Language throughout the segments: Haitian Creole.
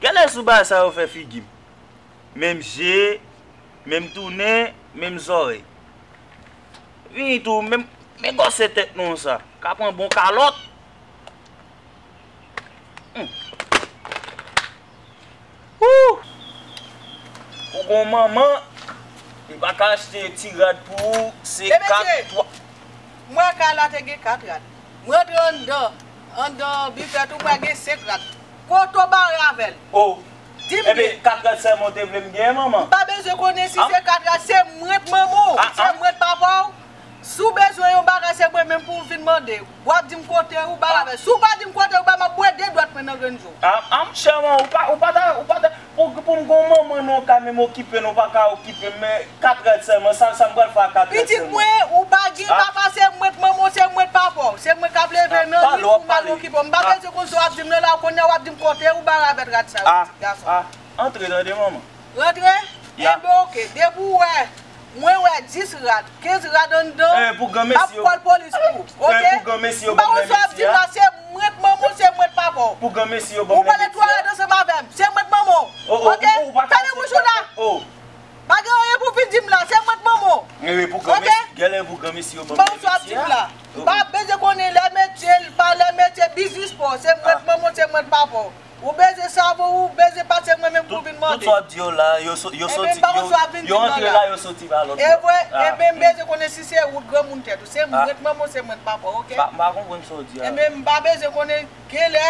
Gade zouba sa yo fè figim. Menm je, menm tou nen, menm zòrèy. Vini tou, menm men gòse tèt nou sa. Ka pran bon kalòt. Ooh! Ou gon manman, li pa ka achte ti rad pou ou, se 4 3. Mesye! M wè kay la te gen 4 rad. M rantre anndan, anndan bifè tou m wè gen 5 rad. Poto bare avè l. O. Di m byen. Epi 4 rad sèlman w te vle m genyen manman? M pa bezwen konnen si se 4 rad, se mwen k manman w, se mwen k papa w. Si w bezwen yon bagay se mwen menm pou w vin mande. W ap di m kote ou ba m avè l. Si w pa di m kote ou ba m, m ap bwè 2 dwèt mwen nan grenn je w. Chèman, ou pa ta, ou pa ta. Bon ki poum gon manman non ka menm okipe non paka okipem men 4 rad sèlman sa sam pral fè a 4 rad sèlman. Pitit mwen ou pa gin papa se mwen k manman w se mwen k papa w se mwen kap leve nan nuit pou mal okipe w m pa bezwen konn sa wap dim nan la kounya wap dim kotew ba ravèt rad sa yo pitit gason. Antre tande manman. Rantre? Enben ok depi w wè Mwen wè 10 rad, 15 rad anndan, map pwal polis pou, ok? M pa konn sa w ap di m la, se mwen t manman w, se mwen t papa w. Ou pale 3 rad ansanm avè m, se mwen t manman w, ok? Fèmen bouch ou la! Pa gen anyen pou w vin di m la, se mwen t manman w, ok? M pa konn sa w ap di m la. M pa bezwen konnen lè metye, pa lè metye, biznis pa w, se mwen t manman w, se mwen t papa w. Ou beze savo ou beze pati ak mwen menm pou vin mande. Tout sa wap di yo la yo antre la yo soti ba lot. Evre enben m beze konnen si se ou t granmoun tet ou se m mwen t manman se mwen t papa ok. M pa konprann sa w di a. Enben m pa beze konnen genlè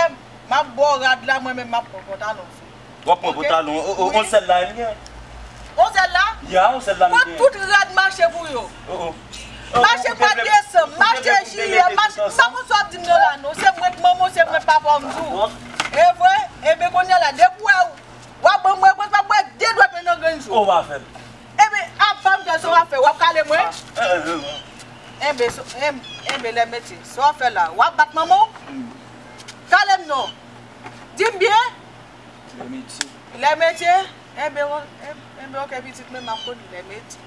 map baw rad la mwen menm map pran pantalon sou. Wap pran pantalon on sel la m gen. On sel la? Ya on sel la m gen. Kot tout rad mache pou yo? Mache mwa desanm, mache jiyè, mache, m pa konn sa w ap di m nan la non, se mwen k manman w, se mwen k papa w m di w. E vre? Eben kounye a la depi w wè w ap ban m repons m ap bwè de dwèt mwen nan grenn jou. Ou va fè l. Eben ap fè m fè l, sa w ap fè? W ap kale mwen? Eben, eben lè mèt ye, sa w ap fè la? W ap bat manman w? Kale m non. Di m byen? Lè mèt ye. Lè mèt ye? Eben ok pitit mwen m ap konn lè mèt ye.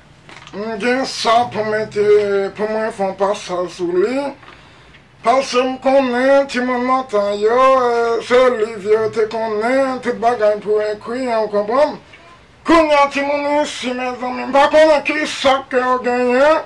M gen sa pou mete pou mwen fon pasaj sou li pasem konnen timoun lontan yo se liv yo te konnen tout bagay pou ekri an ou konpranm kounya timoun isi mezanmi m pa konnen kisak yo genyen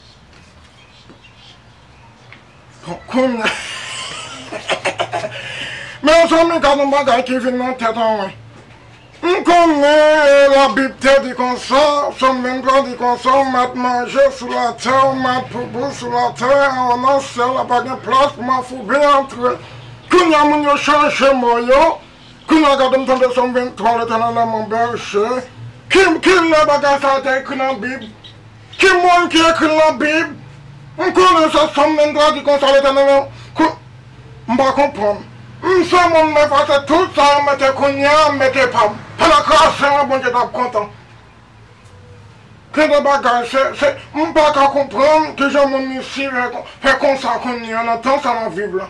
Kounya Mezanmi gad yon bagay ki vin nan tèt an mwen M konnen labib te di konsa Sòm 23 di konsa w mèt manje sou latè w mèt poupou sou latè an nan syèl la pa gen plas pou mafoube antre Kounya moun yo chanje mo yo Kounya gade m tande Sòm 23 Letènèl lan mon bèje Kilè bagay sa a te ekri nan bib Ki moun ki ekri nan bib? M konnen se som men tradi konsa Letènèl an kou m pa konprann. M se moun m efase tout sa yo mete kounye a m mete pa m. Pandan krasen an Bondye tap kontan. Gen de bagay se se m pa ka konprann kijan moun isi fè konsa kounye a nan tan sa nap viv la.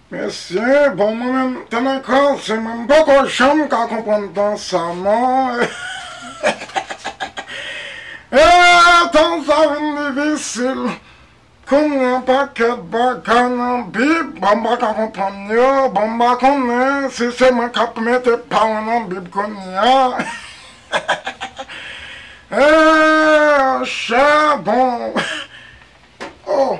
Mesye bon mwen menm te nan kran se mwen mpoko janm ka konprann tan sa non eehh tan sa vin difisil kounya pakèt bagay nan bib bon mpaka konprann yo bon mpa konnen si se mwen kap mete pa mwen nan bib kounya eehh chè bon ohh.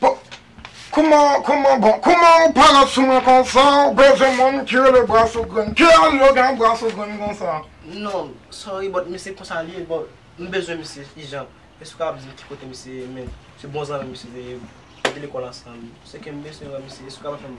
Bon Kouman kouman bon kouman ou pale sou mwen konsa ou bezwen moun ki rele Brassou grenn ki eslogan Brassou grenn konsa? Non sorry but men se konsa li ye bon m bezwen misye ijan èske ou kapab di m ki kote misye ye men se bon zanmi m misye te ye m te lekòl ansanm se ke m beswen wè misye èske ou kapab fè m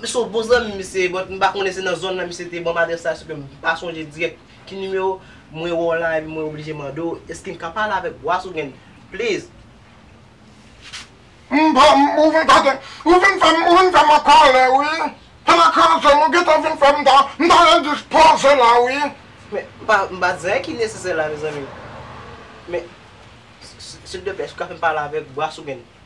Misye yon bon zanmim misye but m pa konnen se nan zòn lan misye te banm adrès la sèke m pa sonje dirèk ki nimewo mwen wè w la epi mwen oblije mande w eskem ka pale avèk Bois ou gen please. M pa m ou vin fè ou vin fè m ou vin fè m an kòlè wi pandan koze m ou gentan vin fè m ta m ta endispoze la wi. Men m pa m pa di anyen ki nesesè la mezanmi men sildeplè èske w ka fè m pale avèk Bois ou gen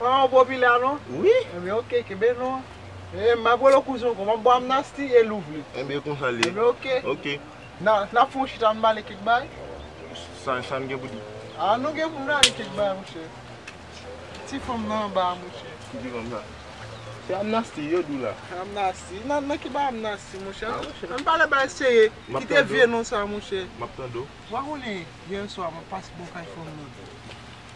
An ou bo pila non. Wi. Enben ok kenbe non. Ee map rele w kouzin anko. Map bo amnasty e louvli. Enben konsa li ye. Enben ok. Ok. Nap fon chita ann pale kek bay. Sa n gen pou di. A nou gen pou n pale kek bay monche. Ki ti fanm nan anba a monche. Ki ti fanm sa. Se amnasty yo di w la. Amnasty. Nan ki bay amnasty monche. A monche. Ann pale bay serye. Map tande w. Kite vye non sa monche. Map tande w. Ou pa konnen yè swa mwen pase bò kay fanm nan.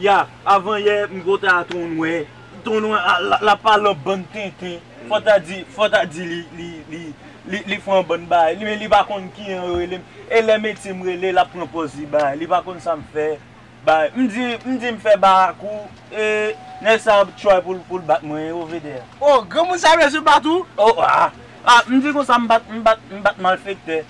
Ya avan yè m ko ta ton nwè. Ton nwè la pa lan bann tenten fò ta di fò ta di li fè yon bann bagay men li pa konn ki an yo rele m e lè metye m rele l ap pran pòz li bagay li pa konn sa m fè bagay m di m di m fè barak ou e nèg sa ap tchway pou l pou l bat mwen o Vedder. O granmoun sa bezwen bat ou? O a a m di konsa m bat m bat m bat malfektè.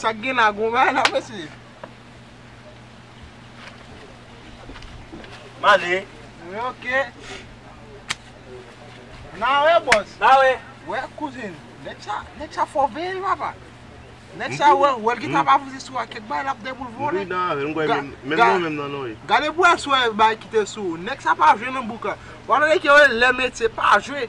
Sak gen la gon bagay la mesye. M ale. Wi ok. Na we boss. Na we. We kouzin. Neg sa neg sa fò veye l papa. Neg sa we we l gentan ap avanse sou a kek bagay lap gen pou l vole. Wi na we m kwè menm menm non menm nan non wi. Gade bwaswe bagay kite sou ou. Neg sa pa jwe nan bouk la. Wap tande ke yo le metye pa jwe.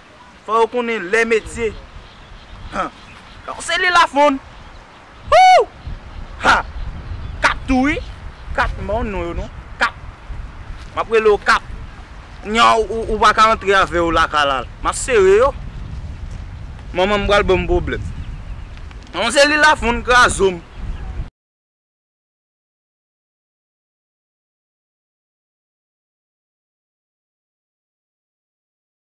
Fò yo konnen lè metye. Han! Donk se li Lafond! Hoo! Ha! Kap tou wi! Kap m ba w non yo non. Kap! M ap rele w Kap. Kounye a ou pa ka antre avè yo lakay la. M ap sere yo. Manman m pral ban m pwoblèm. Donk se li Lafond kraze m.